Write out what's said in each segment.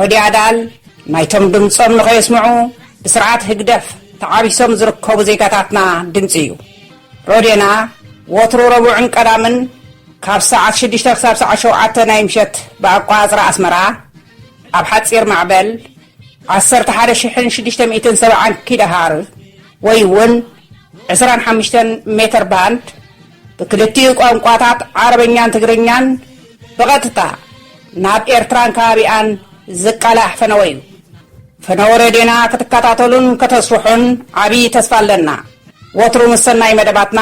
ረድዮ ኣድኣል ናይቶም ድምጾም ንኸየስምዑ ብስርዓት ህግደፍ ተዓቢሶም ዝርከቡ ዜጋታትና ድምጺ እዩ። ረድዮና ወትሩ ረቡዕን ቀዳምን ካብ ሰዓት ሽዱሽተ ክሳብ ሰዓት ሸውዓተ ናይ ምሸት ብኣቋጽራ ኣስመራ ኣብ ሓጺር ማዕበል ዓሰርተ ሓደ ሽሕን ሽዱሽተ ሚእትን ሰብዓን ኪዳሃር ወይ እውን ዕስራን ሓሙሽተን ሜተር ባንድ ብክልቲኡ ቋንቋታት ዓረበኛን ትግርኛን ብቐጥታ ናብ ኤርትራን ከባቢኣን ዝቃላሕ ፈነወ እዩ። ፈነወ ሬድዮና ክትከታተሉን ከተስርሑን ዓብዪ ተስፋ ኣለና። ወትሩ ምስ ሰናይ መደባትና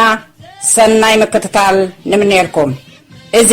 ሰናይ ምክትታል ንምነየልኩም። እዚ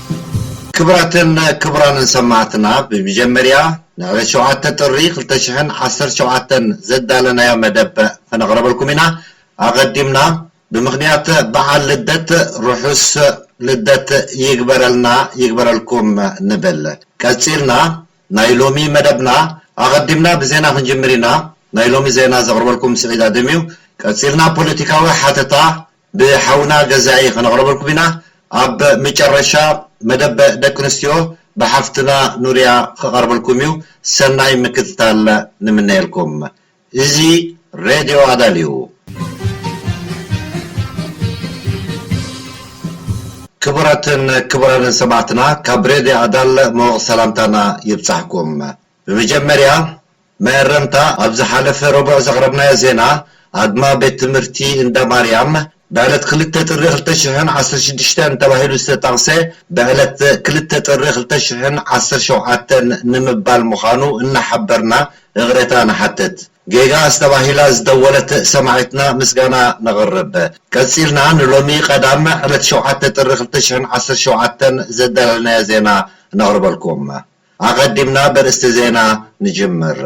ክብራትን ክቡራንን ሰማዕትና ብሚጀመርያ ንዕለት ሸውዓተ ጥሪ ክልተ ሽሕን ዓሰርተ ሸውዓተን ዘዳለናዮ መደብ ክነቅረበልኩም ኢና ኣቀዲምና ብምክንያት በዓል ልደት ርሑስ ልደት ይግበረልና ይግበረልኩም ንብል ቀጺልና ናይ ሎሚ መደብና ኣቀዲምና ብዜና ክንጅምር ኢና ናይ ሎሚ ዜና ዘቅርበልኩም ስዒድ ኣደም እዩ ቀጺልና ፖለቲካዊ ሓተታ ብሓውና ገዛኢ ከነቕርበልኩም ኢና። ኣብ ምጨረሻ መደብ ደቂ ኣንስትዮ ብሓፍትና ኑርያ ክቐርበልኩም እዩ። ሰናይ ምክትታል ንምነየልኩም። እዚ ሬድዮ ኣዳል እዩ። ክቡራትን ክቡራንን ሰማዕትና ካብ ሬድዮ ኣዳል ሞቕ ሰላምታና ይብጻሕኩም። ብመጀመርያ መእረምታ ኣብ ዝሓለፈ ረቡዕ ዘቕረብናዮ ዜና ኣድማ ቤት ትምህርቲ እንዳ ማርያም ብዕለት ክልተ ጥሪ ክልተ ሽሕን ዓሰርተ ሽዱሽተን ተባሂሉ ዝተጠቕሰ ብዕለት ክልተ ጥሪ ክልተ ሽሕን ዓሰርተ ሸውዓተን ንምባል ምዃኑ እናሓበርና እቕሬታ ንሓትት። ጌጋስ ተባሂላ ዝደወለት ሰማዒትና ምስጋና ነቕርብ። ቀጺልና ንሎሚ ቀዳም ዕለት ሸውዓተ ጥሪ ክልተ ሽሕን ዓሰርተ ሸውዓተን ዘዳለልናዮ ዜና ነቕርበልኩም። ኣቐዲምና በርእስቲ ዜና ንጅምር።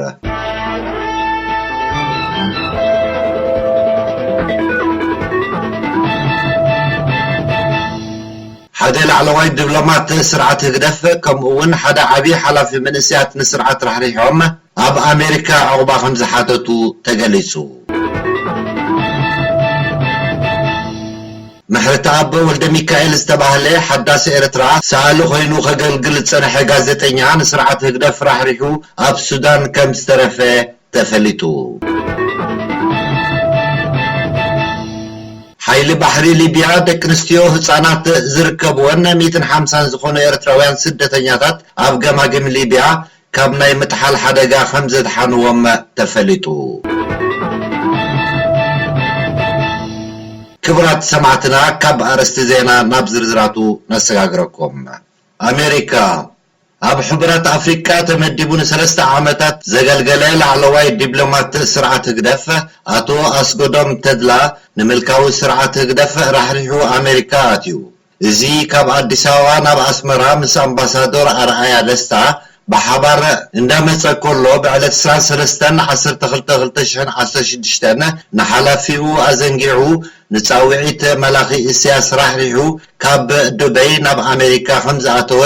ሓደ ላዕለዋይ ድብሎማት ስርዓት ህግደፍ ከምኡ'ውን ሓደ ዓቢ ሓላፊ መንእሰያት ንስርዓት ራሕሪሖም፣ ኣብ ኣሜሪካ ዑቕባ ከምዝሓተቱ ተገሊፁ። ምሕረተኣብ ወልደሚካኤል ዝተባህለ ሓዳስ ኤርትራ ሰኣሊ ኮይኑ ከገልግል ዝፀንሐ ጋዜጠኛ ንስርዓት ህግደፍ ራሕሪሑ ኣብ ሱዳን ከምዝተረፈ ተፈሊጡ። ሓይሊ ባሕሪ ሊብያ ደቂ ኣንስትዮ ህፃናት ዝርከብወን ሚእትን ሓምሳን ዝኾኑ ኤርትራውያን ስደተኛታት ኣብ ገማግም ሊብያ ካብ ናይ ምጥሓል ሓደጋ ከምዘድሓንዎም ተፈሊጡ። ክብራት ሰማዕትና ካብ ኣርእስቲ ዜና ናብ ዝርዝራቱ ነሰጋግረኩም። ኣሜሪካ፣ ኣብ ሕቡራት ኣፍሪቃ ተመዲቡ ንሰለስተ ዓመታት ዘገልገለ ላዕለዋይ ዲብሎማት ስርዓት ህግደፍ ኣቶ ኣስጎዶም ተድላ ንምልካዊ ስርዓት ህግደፍ ራሕሪሑ ኣሜሪካ ኣትዩ። እዚ ካብ ኣዲስ ኣበባ ናብ ኣስመራ ምስ ኣምባሳዶር ኣርኣያ ደስታ ብሓባር እንዳመጸ ከሎ ብዕለት ዕስራን ሰለስተን ዓሰርተ ክልተ ክልተ ሽሕን ዓሰርተ ሽዱሽተን ንሓላፊኡ ኣዘንጊዑ ንጻዊዒት መላኺ እስያስ ራሕሪሑ ካብ ዱበይ ናብ ኣሜሪካ ከምዝኣተወ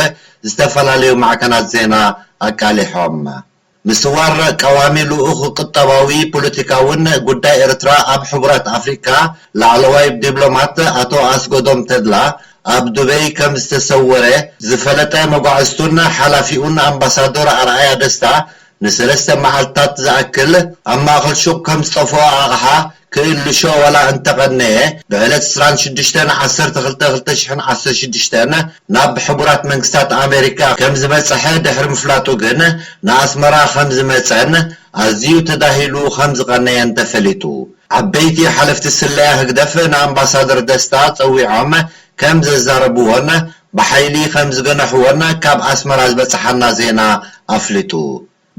ዝተፈላለዩ ማዕከናት ዜና ኣቃሊሖም። ምስዋር ቀዋሚ ልኡኽ ቁጠባዊ ፖለቲካውን ጉዳይ ኤርትራ ኣብ ሕቡራት ኣፍሪቃ ላዕለዋይ ዲብሎማት ኣቶ ኣስጎዶም ተድላ ኣብ ዱበይ ከም ዝተሰወረ ዝፈለጠ መጓዕዝቱን ሓላፊኡን ኣምባሳዶር ኣርኣያ ደስታ ንሰለስተ መዓልትታት ዝኣክል ኣብ ማእከል ሹቕ ከም ዝጠፍኦ ኣቕሓ ክእልሾ ዋላ እንተቐነየ፣ ብዕለት ዕስራን ሽዱሽተን ዓሰርተ ክልተ ክልተ ሽሕን ዓሰርተ ሽዱሽተን ናብ ሕቡራት መንግስታት ኣሜሪካ ከም ዝበጸሐ ድሕሪ ምፍላጡ ግን ንኣስመራ ከም ዝመጸን ኣዝዩ ተዳሂሉ ከም ዝቐነየን ተፈሊጡ። ዓበይቲ ሓለፍቲ ስለያ ህግደፍ ንኣምባሳደር ደስታ ጸዊዖም ከም ዘዛረብዎን ብሓይሊ ከም ዝገነሕዎን ካብ ኣስመራ ዝበጽሓና ዜና ኣፍሊጡ።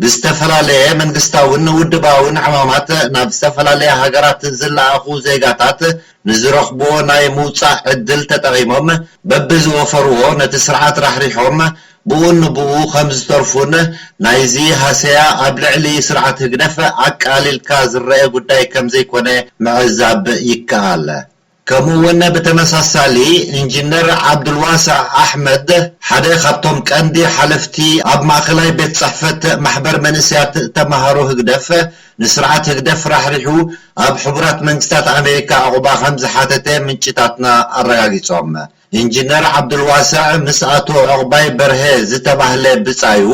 ብዝተፈላለየ መንግስታዊን ውድባዊን ዕማማት ናብ ዝተፈላለያ ሃገራት ዝለኣኹ ዜጋታት ንዝረኽቡዎ ናይ ምውጻእ ዕድል ተጠቒሞም በብዝወፈሩዎ ነቲ ስርዓት ራሕሪሖም ብኡን ንብኡ ከምዝተርፉን ናይዚ ሃሰያ ኣብ ልዕሊ ስርዓት ህግደፍ ኣቃሊልካ ዝረኤ ጉዳይ ከምዘይኮነ ምዕዛብ ይከኣል። ከምኡ'ውን ብተመሳሳሊ ኢንጂነር ዓብዱልዋሳዕ ኣሕመድ ሓደ ካብቶም ቀንዲ ሓለፍቲ ኣብ ማእኸላይ ቤት ፅሕፈት ማሕበር መንእሰያት ተምሃሮ ህግደፍ ንስርዓት ህግደፍ ራሕሪሑ ኣብ ሕቡራት መንግስታት ኣሜሪካ ዑቕባ ከምዝሓተተ ምንጭታትና ኣረጋጊፆም። ኢንጂነር ዓብዱልዋሰዕ ምስ ኣቶ ዑቕባይ በርሀ ዝተባህለ ብጻዩ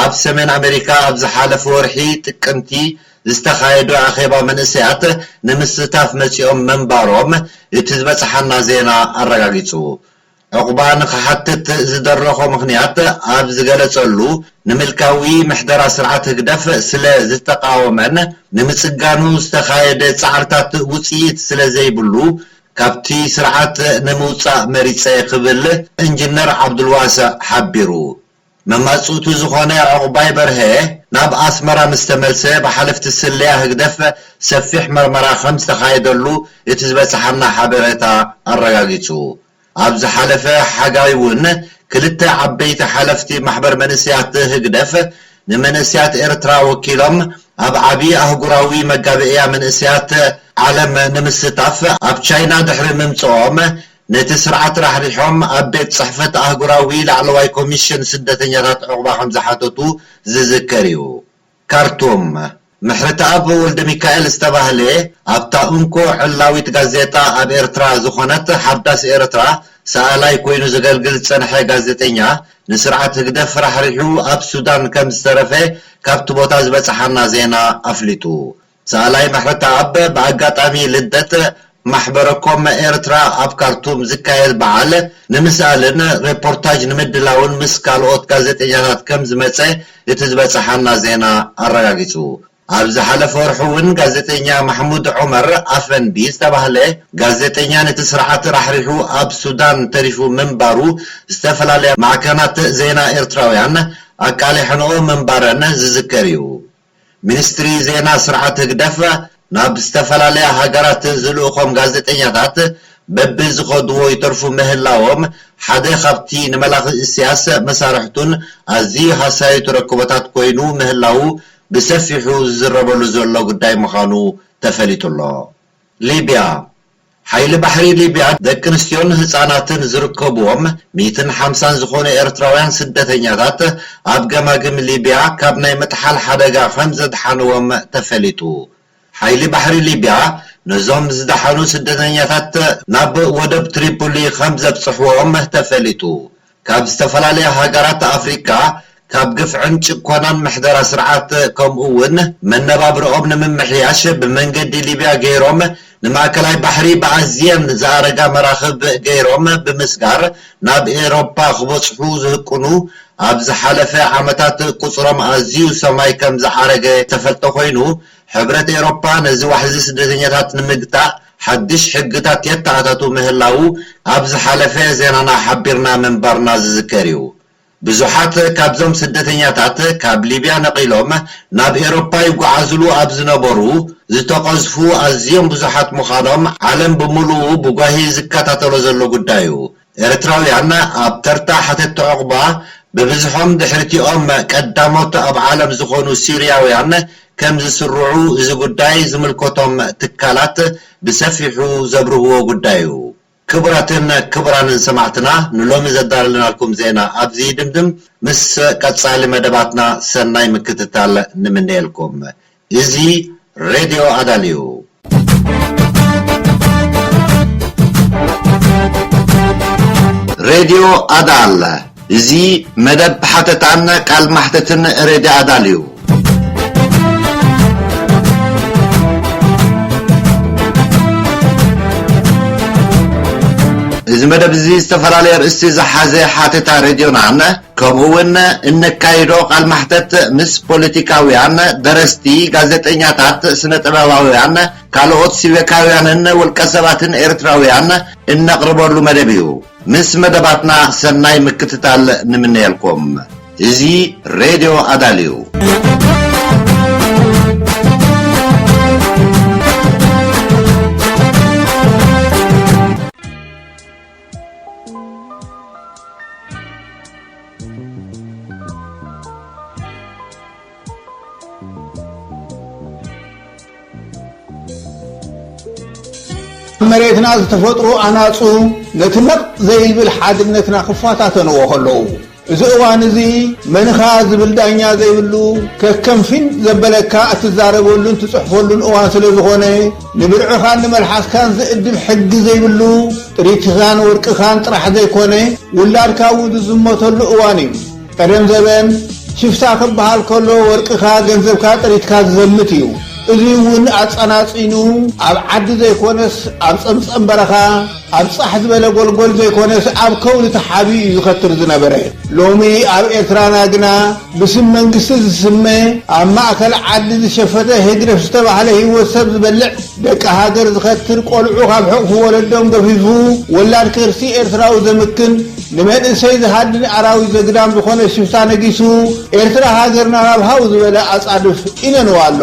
ኣብ ሰሜን ኣሜሪካ ኣብ ዝሓለፈ ወርሒ ጥቅምቲ ዝተኻየዱ ኣኼባ መንእሰያት ንምስታፍ መጺኦም ምንባሮም እቲ ዝበጽሓና ዜና ኣረጋጊጹ። ዑቕባ ንኽሓትት ዝደረኾ ምኽንያት ኣብ ዝገለጸሉ ንምልካዊ ምሕደራ ስርዓት ህግደፍ ስለ ዝተቓወመን ንምጽጋኑ ዝተኻየደ ጻዕርታት ውጽኢት ስለ ዘይብሉ ካብቲ ስርዓት ንምውጻእ መሪጸ ክብል እንጅነር ዓብዱልዋሰዕ ሓቢሩ። መማጽእቱ ዝኾነ ዑቕባይ በርሀ ናብ ኣስመራ ምስ ተመልሰ ብሓለፍቲ ስለያ ህግደፍ ሰፊሕ መርመራ ከም ዝተኻየደሉ እቲ ዝበጽሓና ሓበሬታ ኣረጋጊጹ። ኣብ ዝሓለፈ ሓጋይ'ውን ክልተ ዓበይቲ ሓለፍቲ ማሕበር መንእሰያት ህግደፍ ንመንእሰያት ኤርትራ ወኪሎም ኣብ ዓቢ ኣህጉራዊ መጋብእያ መንእሰያት ዓለም ንምስታፍ ኣብ ቻይና ድሕሪ ምምጽኦም፣ ነቲ ስርዓት ራሕሪሖም ኣብ ቤት ጽሕፈት ኣህጉራዊ ላዕለዋይ ኮሚሽን ስደተኛታት ዑቕባ ከምዝሓተቱ ዝዝከር እዩ። ካርቱም። ምሕረተኣብ ወልደሚካኤል ዝተባህለ ኣብታ እንኮ ዕላዊት ጋዜጣ ኣብ ኤርትራ ዝኾነት ሓዳስ ኤርትራ ሰኣላይ ኮይኑ ዘገልግል ዝጸንሐ ጋዜጠኛ ንስርዓት ህግደፍ ራሕሪሑ ኣብ ሱዳን ከም ዝተረፈ ካብቲ ቦታ ዝበጽሓና ዜና ኣፍሊጡ። ሰኣላይ ምሕረተኣብ ብኣጋጣሚ ልደት ማሕበረኮመ ኤርትራ ኣብ ካርቱም ዝካየድ በዓል ንምስኣልን ሬፖርታጅ ንምድላውን ምስ ካልኦት ጋዜጠኛታት ከም ዝመጸ እቲ ዝበጸሓና ዜና ኣረጋጊጹ። ኣብ ዝሓለፈ ወርሒ'ውን ጋዜጠኛ ማሕሙድ ዑመር ኣፈንዲ ዝተባህለ ጋዜጠኛ ነቲ ስርዓት ራሕሪሑ ኣብ ሱዳን ተሪፉ ምንባሩ ዝተፈላለያ ማዕከናት ዜና ኤርትራውያን ኣቃሊሐንኦ ምንባረን ዝዝከር እዩ። ሚኒስትሪ ዜና ስርዓት ህግደፍ ናብ ዝተፈላለያ ሃገራት ዝልእኾም ጋዜጠኛታት በብዝኸድዎ ይተርፉ ምህላዎም ሓደ ካብቲ ንመላኺ ኢሲያስ መሳርሕቱን ኣዝዩ ሃሳዩ ተረክቦታት ኮይኑ ምህላዉ ብሰፊሑ ዝዝረበሉ ዘሎ ጉዳይ ምዃኑ ተፈሊጡ'ሎ። ሊብያ። ሓይሊ ባሕሪ ሊብያ ደቂ ኣንስትዮን ህጻናትን ዝርከቡዎም ሚእትን ሓምሳን ዝኾኑ ኤርትራውያን ስደተኛታት ኣብ ገማግም ሊብያ ካብ ናይ ምጥሓል ሓደጋ ከምዘድሓኑዎም ተፈሊጡ። ሓይሊ ባሕሪ ሊብያ ነዞም ዝደሓኑ ስደተኛታት ናብ ወደብ ትሪፖሊ ከምዘብጽሑዎም ተፈሊጡ። ካብ ዝተፈላለያ ሃገራት ኣፍሪቃ ካብ ግፍዕን ጭኮናን ምሕደራ ስርዓት ከምኡ እውን መነባብርኦም ንምምሕያሽ ብመንገዲ ሊብያ ገይሮም ንማእከላይ ባሕሪ ብኣዝየን ዝኣረጋ መራኽብ ገይሮም ብምስጋር ናብ ኤሮፓ ክበጽሑ ዝህቅኑ ኣብ ዝሓለፈ ዓመታት ቁጽሮም ኣዝዩ ሰማይ ከምዝዓረገ ዝተፈልጠ ኮይኑ ሕብረት ኤሮፓ ነዚ ዋሕዚ ስደተኛታት ንምግታእ ሓድሽ ሕግታት የተኣታቱ ምህላዉ ኣብ ዝሓለፈ ዜናና ሓቢርና ምንባርና ዝዝከር እዩ። ብዙሓት ካብዞም ስደተኛታት ካብ ሊብያ ነቒሎም ናብ ኤሮፓ ይጓዓዝሉ ኣብ ዝነበሩ ዝተቐዝፉ ኣዝዮም ብዙሓት ምዃኖም ዓለም ብምሉኡ ብጓሂ ዝከታተሎ ዘሎ ጉዳይ እዩ። ኤርትራውያን ኣብ ተርታ ሓተቲ ዑቕባ ብብዝሖም ድሕሪቲኦም ቀዳሞት ኣብ ዓለም ዝኾኑ ሲርያውያን ከም ዝስርዑ እዚ ጉዳይ ዝምልከቶም ትካላት ብሰፊሑ ዘብርህዎ ጉዳይ'ዩ። ክቡራትን ክቡራንን ሰማዕትና ንሎሚ ዘዳለናልኩም ዜና ኣብዚ ይድምድም ምስ ቀጻሊ መደባትና ሰናይ ምክትታል ንምነየልኩም። እዚ ሬድዮ ኣዳል እዩ። ሬድዮ ኣዳል እዚ መደብ ሓተታን ቃል ማሕተትን ሬድዮ ኣዳል እዩ። እዚ መደብ እዚ ዝተፈላለየ ኣርእስቲ ዝሓዘ ሓተታ ሬድዮናን ከምኡ ውን እነካይዶ ቃል ማሕተት ምስ ፖለቲካውያን፣ ደረስቲ፣ ጋዜጠኛታት፣ ስነ ጥበባውያን፣ ካልኦት ሲቨካውያንን ውልቀ ሰባትን ኤርትራውያን እነቕርበሉ መደብ እዩ። ምስ መደባትና ሰናይ ምክትታል ንምነየልኩም። እዚ ሬድዮ ኣዳል እዩ። መሬትና ዝተፈጥሩ ኣናፁ ነቲ ነቕ ዘይብል ሓድነትና ክፈታተንዎ ከለዉ እዚ እዋን እዚ መንኻ ዝብል ዳኛ ዘይብሉ ከከም ፊን ዘበለካ እትዛረበሉን ትጽሕፈሉን እዋን ስለ ዝኾነ ንብርዕኻን ንመልሓስካን ዝእድብ ሕጊ ዘይብሉ ጥሪትካን ወርቅኻን ጥራሕ ዘይኮነ ውላድካ እውን ዝዝመተሉ እዋን እዩ። ቀደም ዘበን ሽፍታ ክበሃል ከሎ ወርቅኻ ገንዘብካ ጥሪትካ ዝዘምት እዩ። እዚ እውን ኣጸናጺኑ ኣብ ዓዲ ዘይኮነስ ኣብ ጸምጸም በረኻ፣ ኣብ ጻሕ ዝበለ ጎልጎል ዘይኮነስ ኣብ ከውሊ ተሓቢኡ እዩ ዝኸትር ዝነበረ። ሎሚ ኣብ ኤርትራና ግና ብስም መንግስቲ ዝስመ ኣብ ማእከል ዓዲ ዝሸፈተ ህግደፍ ዝተባህለ ህይወት ሰብ ዝበልዕ ደቂ ሃገር ዝኸትር ቆልዑ ካብ ሕቕፊ ወለዶም ገፊፉ ወላድ ከርሲ ኤርትራዊ ዘምክን ንመንእሰይ ዝሃድን ኣራዊት ዘግዳም ዝኾነ ሽፍታ ነጊሱ ኤርትራ ሃገርና ናብ ሃው ዝበለ ኣጻድፍ ኢነንዋ ኣሎ።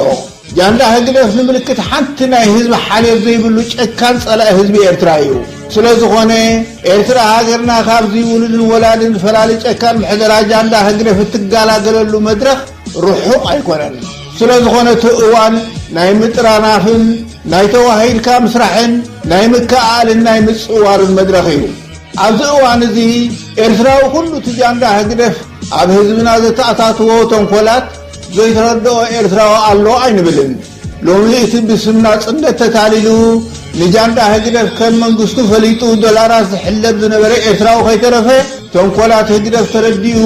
ጃንዳ ህግደፍ ንምልክት ሓንቲ ናይ ህዝቢ ሓልዮት ዘይብሉ ጨካን ጸላኢ ህዝቢ ኤርትራ እዩ። ስለዝኾነ ኤርትራ ሃገርና ካብዚ ውሉድን ወላድን ፈላሊ ጨካን ምሕደራ ጃንዳ ህግደፍ እትጋላገለሉ መድረኽ ርሑቕ ኣይኮነን። ስለዝኾነ እቲ እዋን ናይ ምጥራናፍን ናይ ተዋሂድካ ምስራሕን ናይ ምክእኣልን ናይ ምጽዋርን መድረኽ እዩ። ኣብዚ እዋን እዚ ኤርትራዊ ኩሉ እቲ ጃንዳ ህግደፍ ኣብ ህዝብና ዘተኣታትዎ ተንኮላት፣ ዘይተረድኦ ኤርትራዊ ኣሎ ኣይንብልን። ሎሚ እቲ ብስም ናጽነት ተታሊሉ ንጃንዳ ህግደፍ ከም መንግስቱ ፈሊጡ ዶላራት ዝሕለብ ዝነበረ ኤርትራዊ ከይተረፈ ተንኮላት ህግደፍ ተረዲኡ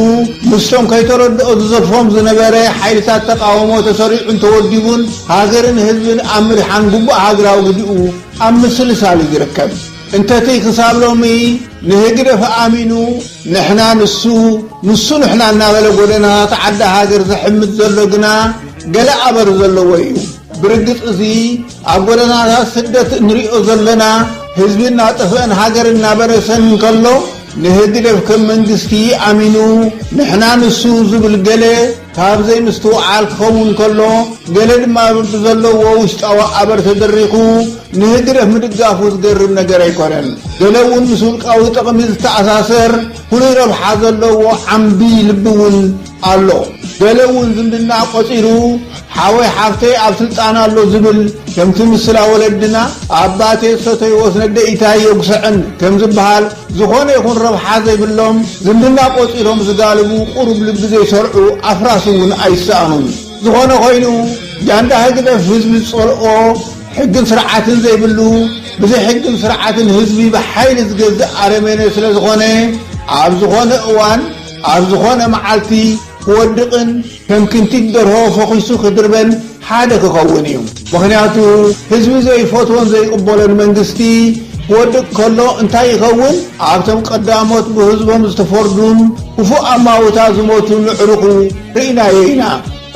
ምስቶም ከይተረድኦ ዝዘርፎም ዝነበረ ሓይልታት ተቃውሞ ተሰሪዑን ተወዲቡን ሃገርን ህዝብን ኣብ ምድሓን ግቡእ ሃገራዊ ግዲኡ ኣብ ምስልሳል እዩ ዝርከብ። እንተቲ ክሳብ ሎሚ ንህግደፍ ኣሚኑ ንሕና ንሱ ንሱ ንሕና እናበለ ጎደናታት ዓዲ ሃገር ዝሕምት ዘሎ ግና ገለ ኣበር ዘለዎ እዩ። ብርግጽ እዚ ኣብ ጎደናታት ስደት እንርእዮ ዘለና ህዝቢ እናጠፍአን ሃገር እናበረሰን እንከሎ ንህግደፍ ከም መንግስቲ ኣሚኑ ንሕና ንሱ ዝብል ገለ ካብ ዘይምስትውዓል ክኸውን ከሎ፣ ገለ ድማ ብዘለዎ ውሽጣዊ ኣበር ተደሪኹ ንህግደፍ ምድጋፉ ዝገርም ነገር ኣይኮነን። ገለ እውን ምስ ውልቃዊ ጥቕሚ ዝተኣሳሰር ፍሉይ ረብሓ ዘለዎ ዓምዲ ልቢ እውን ኣሎ። ገለ እውን ዝምድና ቆጺሩ ሓወይ ሓፍተይ ኣብ ስልጣን ኣሎ ዝብል ከምቲ ምስላ ወለድና ኣባቴ ዝሰተይዎስ ነደኢታይ የጉሰዐን ከምዝበሃል፣ ዝኾነ ይኹን ረብሓ ዘይብሎም ዝምድና ቆጺሮም ዝጋልቡ ቁሩብ ልቢ ዘይሰርዑ ኣፍራስ እውን ኣይሰኣኑን። ዝኾነ ኮይኑ ጃንዳ ህግደፍ ህዝቢ ዝጸልኦ ሕግን ስርዓትን ዘይብሉ ብዘይ ሕግን ስርዓትን ህዝቢ ብሓይሊ ዝገዝእ ኣረሜኔ ስለዝኾነ ኣብ ዝኾነ እዋን ኣብ ዝኾነ መዓልቲ ክወድቕን ከም ክንቲት ደርሆ ፈኹሱ ክድርበን ሓደ ክኸውን እዩ። ምኽንያቱ ህዝቢ ዘይፈትዎን ዘይቕበሎን መንግስቲ ክወድቅ ከሎ እንታይ ይኸውን? ኣብቶም ቀዳሞት ብህዝቦም ዝተፈርዱን ክፉእ ኣማውታ ዝሞቱን ኣዕሩኹ ርኢናዮ ኢና።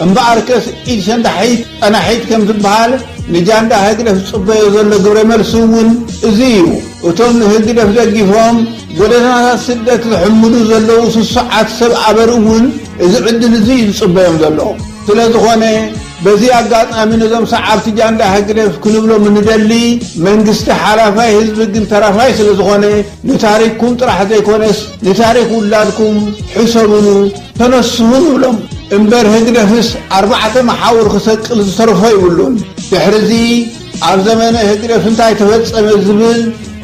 እምበኣርከስ ኢድ ሸንዳሒት ጸናሒት ከም ዝበሃል ንጃንዳ ህግደፍ ዝጽበዮ ዘሎ ግብረ መልሲ እውን እዚ እዩ። እቶም ንህግደፍ ደጊፎም ጎደናታት ስደት ዝሕምሉ ዘለዉ ስሱዓት ሰብ ኣበር እውን እዚ ዕድል እዚ እዩ ዝጽበዮም ዘሎ። ስለ ዝኾነ በዚ ኣጋጣሚ ነዞም ሰዓብቲ ጃንዳ ህግደፍ ክንብሎም እንደሊ መንግስቲ ሓላፋይ ህዝቢ ግን ተራፋይ ስለ ዝኾነ ንታሪኽኩም ጥራሕ ዘይኮነስ ንታሪኽ ውላድኩም ሕሰብሉ ተነስሁ ንብሎም። እምበር ህግደፍስ ኣርባዕተ መሓውር ክሰቅል ዝተርፎ ይብሉን። ድሕሪ እዚ። ኣብ ዘመነ ህግደፍ እንታይ ተፈጸመ ዝብል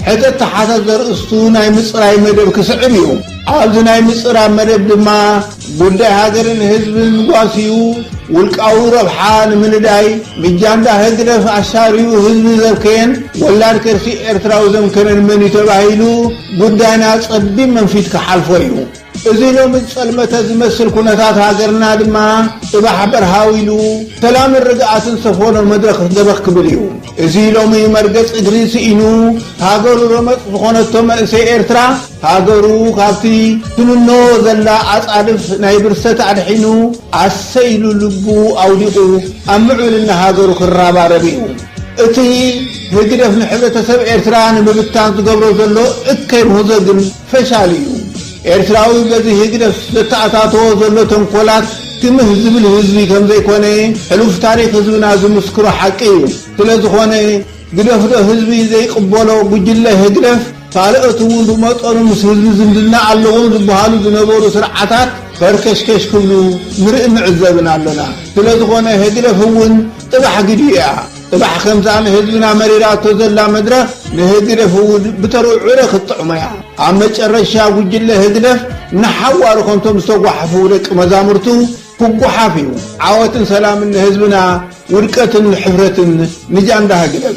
ሕተ ተሓተት ዘርእስቱ ናይ ምጽራይ መደብ ክስዕብ እዩ። ኣብዚ ናይ ምጽራብ መደብ ድማ ጉዳይ ሃገርን ህዝብን ጓስዩ ውልቃዊ ረብሓ ንምንዳይ ምጃንዳ ህግደፍ ኣሻርዩ ህዝቢ ዘብከየን ወላድ ከርሲ ኤርትራዊ ዘምከነን መንዩ ተባሂሉ ጉዳይና ጸቢብ መንፊት ክሓልፎ እዩ። እዚ ሎሚ ዝጸልመተ ዝመስል ኩነታት ሃገርና ድማ ጽባሕ በርሃው ኢሉ ሰላምን ርግኣትን ዝሰፈኖ መድረኽ ዘበኽ ክብል እዩ። እዚ ሎሚ መርገጽ እግሪ ስኢኑ ሃገሩ ረመጽ ዝኾነቶ መንእሰይ ኤርትራ፣ ሃገሩ ካብቲ ትምኖ ዘላ ኣጻድፍ ናይ ብርሰት ኣድሒኑ ኣሰይ ኢሉ ልቡ ኣውዲቑ ኣብ ምዕብልና ሃገሩ ክራባረብ እዩ። እቲ ህግደፍ ንሕብረተሰብ ኤርትራ ንምብታን ዝገብሮ ዘሎ እከይ ምህዞ ግን፣ ፈሻል እዩ ኤርትራዊ በዚ ህግደፍ ዘተኣታተዎ ዘሎ ተንኮላት ትምህ ዝብል ህዝቢ ከምዘይኮነ ሕሉፍ ታሪኽ ህዝብና ዝምስክሮ ሓቂ እዩ ስለዝኾነ ግደፍዶ ህዝቢ ዘይቅበሎ ጉጅለ ህግደፍ ካልኦት እውን ብመጠኑ ምስ ህዝቢ ዝምድና ኣለዎም ዝብሃሉ ዝነበሩ ስርዓታት ፈርከሽከሽ ክብሉ ንርኢ ንዕዘብን ኣሎና ስለዝኾነ ህግደፍ እውን ጥባሕ ግዲ እያ እባሕ ከምዛ ንህዝብና መሪራቶ ዘላ መድረኽ ንህግደፍ እውን ብተርኡ ዕረ ክትጥዕሞ እያ። ኣብ መጨረሻ ጉጅለ ህግደፍ ንሓዋሩ ከምቶም ዝተጓሓፉ ደቂ መዛሙርቱ ክጉሓፍ እዩ። ዓወትን ሰላምን ንህዝብና ውድቀትን ንሕፍረትን ንጃንዳ ህግደፍ።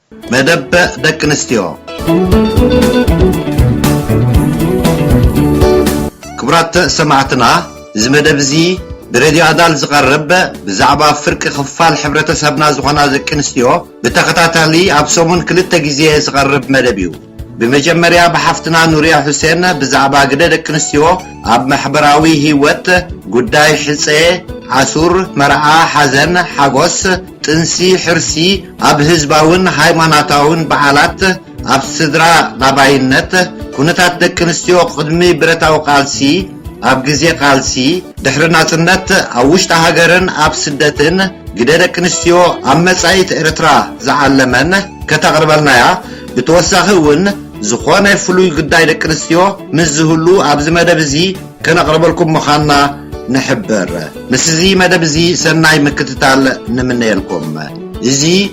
መደበ ደቂ ኣንስትዮ ክቡራት ሰማዕትና እዚ መደብ እዚ ብሬድዮ ኣዳል ዝቐርብ ብዛዕባ ፍርቂ ክፋል ሕብረተሰብና ዝኾና ደቂ ኣንስትዮ ብተኸታታሊ ኣብ ሰሙን ክልተ ግዜ ዝቐርብ መደብ እዩ። ብመጀመርያ ብሓፍትና ኑርያ ሑሴን ብዛዕባ ግደ ደቂ ኣንስትዮ ኣብ ማሕበራዊ ሂወት፣ ጉዳይ ሕጸ፣ ኣሱር፣ መርዓ፣ ሓዘን፣ ሓጎስ፣ ጥንሲ፣ ሕርሲ፣ ኣብ ህዝባውን ሃይማናታውን በዓላት፣ ኣብ ስድራ ላባይነት፣ ኩነታት ደቂ ኣንስትዮ ቅድሚ ብረታዊ ቃልሲ፣ ኣብ ግዜ ቃልሲ ድሕሪ ናጽነት ኣብ ውሽጢ ሃገርን ኣብ ስደትን ግደ ደቂ ኣንስትዮ ኣብ መጻኢት ኤርትራ ዝዓለመን ከተቕርበልናያ ብተወሳኺ ውን ዝኾነ ፍሉይ ግዳይ ደቂ ኣንስትዮ ምስ ዝህሉ ኣብዚ መደብ እዚ ከነቕርበልኩም ምኻና ንሕብር ምስዚ መደብ እዚ ሰናይ ምክትታል ንምነየልኩም እዚ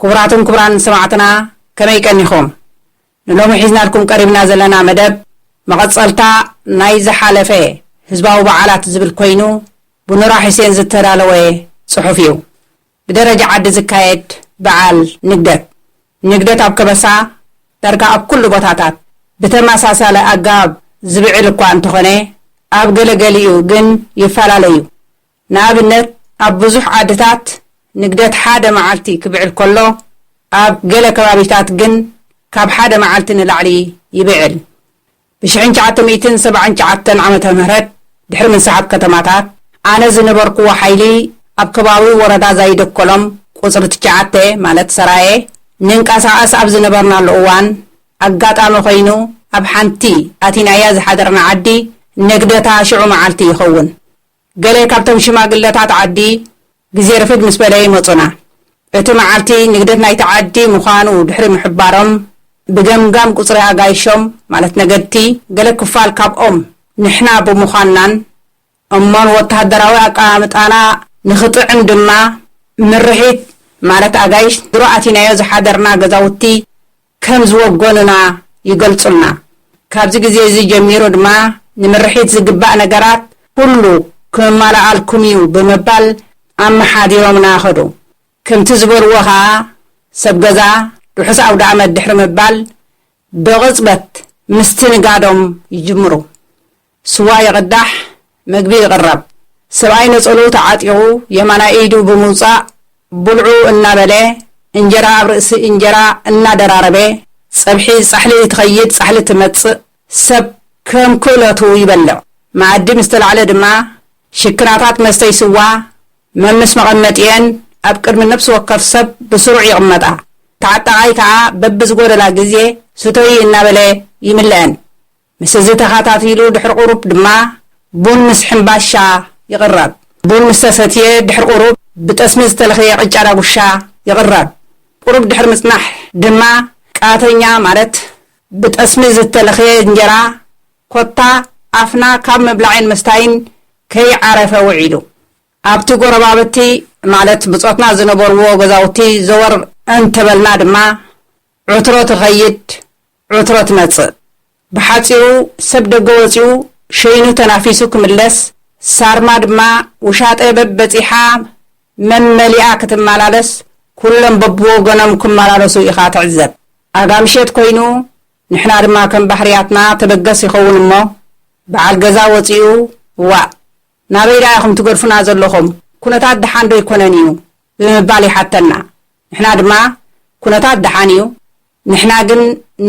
ክቡራትን ክቡራንን ሰማዕትና ከመይ ቀኒኹም? ንሎሚ ሒዝናልኩም ቀሪብና ዘለና መደብ መቐጸልታ ናይ ዝሓለፈ ህዝባዊ በዓላት ዝብል ኮይኑ ብኑራ ሑሴን ዝተዳለወ ጽሑፍ እዩ። ብደረጃ ዓዲ ዝካየድ በዓል ንግደት። ንግደት ኣብ ከበሳ ዳርጋ ኣብ ኩሉ ቦታታት ብተመሳሳሊ ኣገባብ ዝብዕል እኳ እንተኾነ ኣብ ገለ ገሊኡ ግን ይፈላለ እዩ። ንኣብነት ኣብ ብዙሕ ዓድታት ንግደት ሓደ መዓልቲ ክብዕል ከሎ ኣብ ገለ ከባቢታት ግን ካብ ሓደ መዓልቲ ንላዕሊ ይብዕል። ብሽሕን ትሽዓተ ሚእትን ሰብዓን ትሽዓተን ዓመተ ምህረት ድሕሪ ምንሳሓብ ከተማታት ኣነ ዝነበርኩዎ ሓይሊ ኣብ ከባቢ ወረዳ ዛይደኮሎም ቁጽሪ ትሽዓተ ማለት ሰራየ ንንቀሳቐስ ኣብ ዝነበርናሉ እዋን ኣጋጣሚ ኮይኑ ኣብ ሓንቲ ኣቲናያ ዝሓደርና ዓዲ ንግደታ ሽዑ መዓልቲ ይኸውን ገለ ካብቶም ሽማግለታት ዓዲ ግዜ ርፍድ ምስ በለ ይመጹና። እቲ መዓልቲ ንግደት ናይቲ ዓዲ ምዃኑ ድሕሪ ምሕባሮም፣ ብገምጋም ቁጽሪ ኣጋይሾም ማለት ነገድቲ ገለ ክፋል ካብኦም ንሕና ብምዃንናን እሞ ንወተሃደራዊ ኣቀማምጣና ንኽጥዕም ድማ ምርሒት ማለት ኣጋይሽ ድሮ ኣቲናዮ ዝሓደርና ገዛውቲ ከም ዝወገኑና ይገልጹልና። ካብዚ ግዜ እዚ ጀሚሩ ድማ ንምርሒት ዝግባእ ነገራት ኩሉ ክመማላኣልኩም እዩ ብምባል ኣመሓዲሮምና ከዱ። ከምቲ ዝበልዎ ከኣ ሰብ ገዛ ርሑስ ኣውደኣመት ድሕሪ ምባል ብቕጽበት ምስትንጋዶም ይጅምሩ። ስዋ ይቕዳሕ፣ ምግቢ ይቕረብ። ሰብኣይ ነጸልኡ ተዓጢቑ የማናይ ኢዱ ብምውጻእ ብልዑ እናበለ እንጀራ ኣብ ርእሲ እንጀራ እናደራረበ ጸብሒ ጻሕሊ ትኸይድ ጻሕሊ ትመጽእ ሰብ ከም ክእለቱ ይበልዕ። መኣዲ ምስ ተላዕለ ድማ ሽክናታት መስተዪ ስዋ መምስ መቐመጢኤን ኣብ ቅድሚ ነብሲ ወከፍ ሰብ ብስሩዕ ይቕመጣ። ተዓጣቓይ ከኣ በብዝጎደላ ግዜ ስተዪ እናበለ ይምልኣን። ምስ እዚ ተኻታቲሉ ድሕሪ ቁሩብ ድማ ቡን ምስ ሕምባሻ ይቕረብ። ቡን ምስ ተሰትየ ድሕሪ ቁሩብ ብጠስሚ ዝተለኽየ ቅጫ ዳጉሻ ይቕረብ። ቁሩብ ድሕሪ ምጽናሕ ድማ ቃተኛ ማለት ብጠስሚ ዝተለኽየ እንጀራ ኮታ ኣፍና ካብ ምብላዕን ምስታይን ከይዓረፈ ውዒሉ ኣብቲ ጎረባብቲ ማለት ብጾትና ዝነበርዎ ገዛውቲ ዘወር እንተበልና ድማ ዕትሮ ትኸይድ ዕትሮ ትመጽእ። ብሓጺሩ ሰብ ደገ ወጺኡ ሸይኑ ተናፊሱ ክምለስ፣ ሳርማ ድማ ውሻጠ በብበጺሓ መመሊኣ ክትማላለስ ኩሎም በብወገኖም ክማላለሱ ኢኻ ትዕዘብ። ኣጋ ምሸት ኮይኑ ንሕና ድማ ከም ባህርያትና ተበገስ ይኸውን እሞ በዓል ገዛ ወጺኡ እዋእ ናበይ ደኣ ኢኹም ትገድፉና ዘለኹም ኩነታት ደሓን ዶ ኣይኮነን እዩ ብምባል ይሓተና ንሕና ድማ ኩነታት ደሓን እዩ ንሕና ግን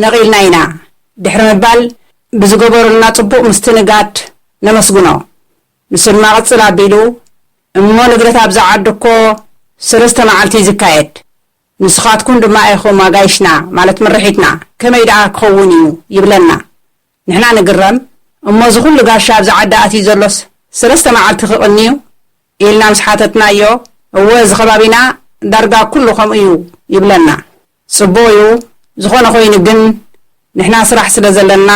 ነቒልና ኢና ድሕሪ ምባል ብዝገበሩልና ጽቡቕ ምስትንጋድ ነመስግኖ። ንሱ ድማ ቅጽል ኣቢሉ እሞ ንግደት ኣብዛ ዓዲ እኮ ሰለስተ መዓልቲ እዩ ዝካየድ፣ ንስኻትኩም ድማ ኢኹም ኣጋይሽና ማለት ምርሒትና፣ ከመይ ደኣ ክኸውን እዩ ይብለና። ንሕና ንግረም እሞ እዚ ኩሉ ጋሻ ኣብዚ ዓዲ ኣትዩ ዘሎስ ሰለስተ መዓልቲ ክቕኒ'ዩ? ኢልና ምስ ሓተትናዮ፣ እወ እዚ ከባቢና ዳርጋ ኩሉ ከምኡ'ዩ ይብለና። ጽቡቕ'ዩ፣ ዝኾነ ኮይኑ ግን ንሕና ስራሕ ስለ ዘለና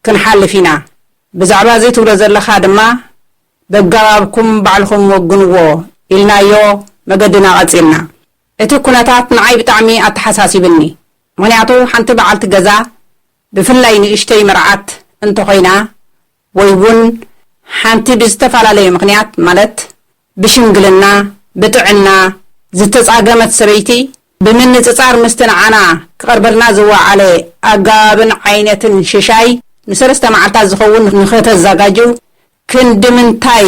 ክንሓልፍ ኢና። ብዛዕባ እዚ ትብሎ ዘለኻ ድማ በገባብኩም ባዕልኹም ወግንዎ ኢልናዮ መገድና ቀጺልና። እቲ ኩነታት ንዓይ ብጣዕሚ ኣተሓሳሲብኒ፣ ምኽንያቱ ሓንቲ በዓልቲ ገዛ ብፍላይ ንእሽተይ መርዓት እንተኾይና ወይ ውን ሓንቲ ብዝተፈላለየ ምኽንያት ማለት ብሽምግልና፣ ብጥዕና፣ ዝተጻገመት ሰበይቲ ብምንጽጻር ምስቲ ንዓና ክቐርበልና ዝወዓለ ኣገባብን ዓይነትን ሽሻይ ንሰለስተ መዓልታት ዝኸውን ንኸተዛጋጅው ክንድምንታይ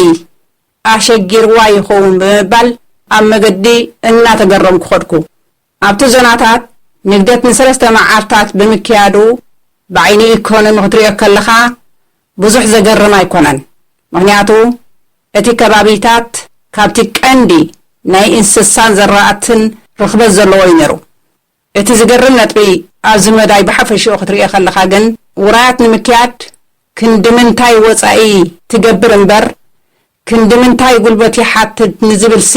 ኣሸጊርዋ ይኸውን ብምባል ኣብ መገዲ እናተገረምኩ ከድኩ። ኣብቲ ዞናታት ንግደት ንሰለስተ መዓልታት ብምክያዱ ብዓይኒ ኢኮኖሚ ክትሪኦ ከለኻ ብዙሕ ዘገርም ኣይኮነን። ምኽንያቱ እቲ ከባቢታት ካብቲ ቀንዲ ናይ እንስሳን ዘራእትን ርኽበት ዘለዎ እዩ ነይሩ። እቲ ዝገርም ነጥቢ ኣብዚ መዳይ ብሓፈሽኡ ክትሪኦ ከለኻ ግን ውራያት ንምክያድ ክንድምንታይ ወፃኢ ትገብር እምበር ክንድምንታይ ጉልበት ይሓትት ንዝብልሲ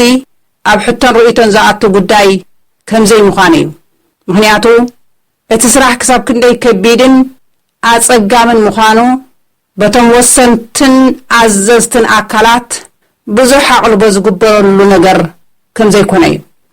ኣብ ሕቶን ርእይቶን ዝኣቱ ጉዳይ ከምዘይምዃኑ እዩ። ምኽንያቱ እቲ ስራሕ ክሳብ ክንደይ ከቢድን ኣጸጋምን ምዃኑ በቶም ወሰንትን ኣዘዝትን ኣካላት ብዙሕ ኣቕልቦ ዝግበረሉ ነገር ከምዘይኮነ እዩ።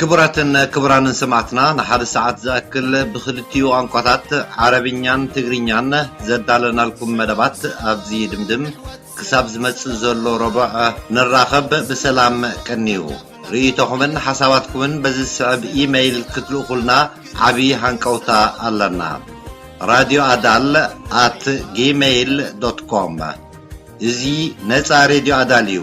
ክቡራትን ክቡራንን ሰማዕትና ንሓደ ሰዓት ዝኣክል ብክልቲኡ ቋንቋታት ዓረብኛን ትግርኛን ዘዳለናልኩም መደባት ኣብዚ ድምድም ክሳብ ዝመጽእ ዘሎ ረቡዕ ንራኸብ ብሰላም ቀንዩ። ርእይቶኹምን ሓሳባትኩምን በዚ ዝስዕብ ኢመይል ክትልእኹልና ዓቢ ሃንቀውታ ኣለና radio adal at gmail dot com እዚ ነጻ ሬድዮ ኣዳል እዩ።